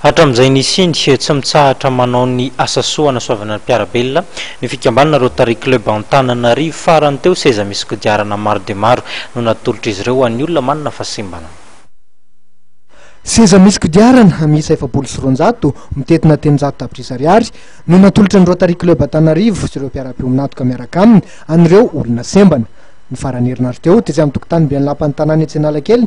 Hatramin'izay nisiany, tsy mitsahatra manao ny asa soa hanasoavana ny mpiara-belona ny fikambanana Rotary Club Antananarivo. Farany teo, seza misy kodiarana maro dia maro no natolotr'izy ireo ho an'ny olona manana fahasembanana. Seza misy kodiarana miisa efapolo sy roanjato, mitentina telonjato tapitrisa ariary, no natolotra ny Rotary Club Antananarivo sy ireo mpiara-pionin'antoka miaraka aminy an'ireo olona sembana. Ny faran'ny herinandro teo, tetsy amin'ny tokotanim-ben'ny Lapan'ny Tanàna etsy Analakely,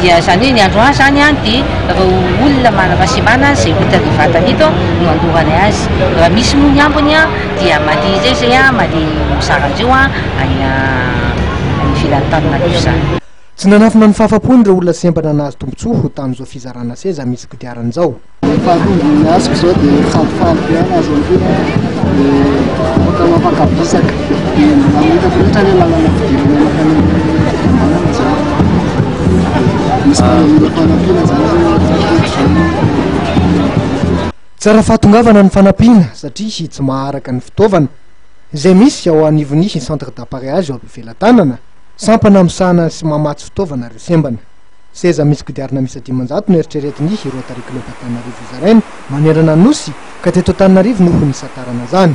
Dia izany hoe ny andro A izany dia ireo olona manana fahasemana izay ho hitan'ny vatany eto no handorany azy. Raha misy moa ny ambiny dia mandeha indray izay mandeha mizara an'ireo any ivelan'ny tany madio izany. Tsy nanafina ny fahafampony ireo olona sempatra nahazo tombontsoa tamin'izao fizarana seza misy kodiarana izao. Ny faharoa ny asiko izao dia falifaly be aho azo antoka dia afaka mampakabisaka dia mamitako loatra ny lalana fidirana mankany amin'ny misy mpanamina mpanampiana zany Tsara fahatongavana ny fanampiana satria tsy maharaka ny fitaovana izay misy ao anivon'ny centre d'appareillage ao Befelatanana, sampana misahana sy mamatsy fitaovana ireo sembana. Seza misy kodiarana miisa dimanjato no eritreretin'ny Rotary Club Antananarivo hozaraina manerana ny Nosy ka teto Antananarivo no ho nisantarana izany.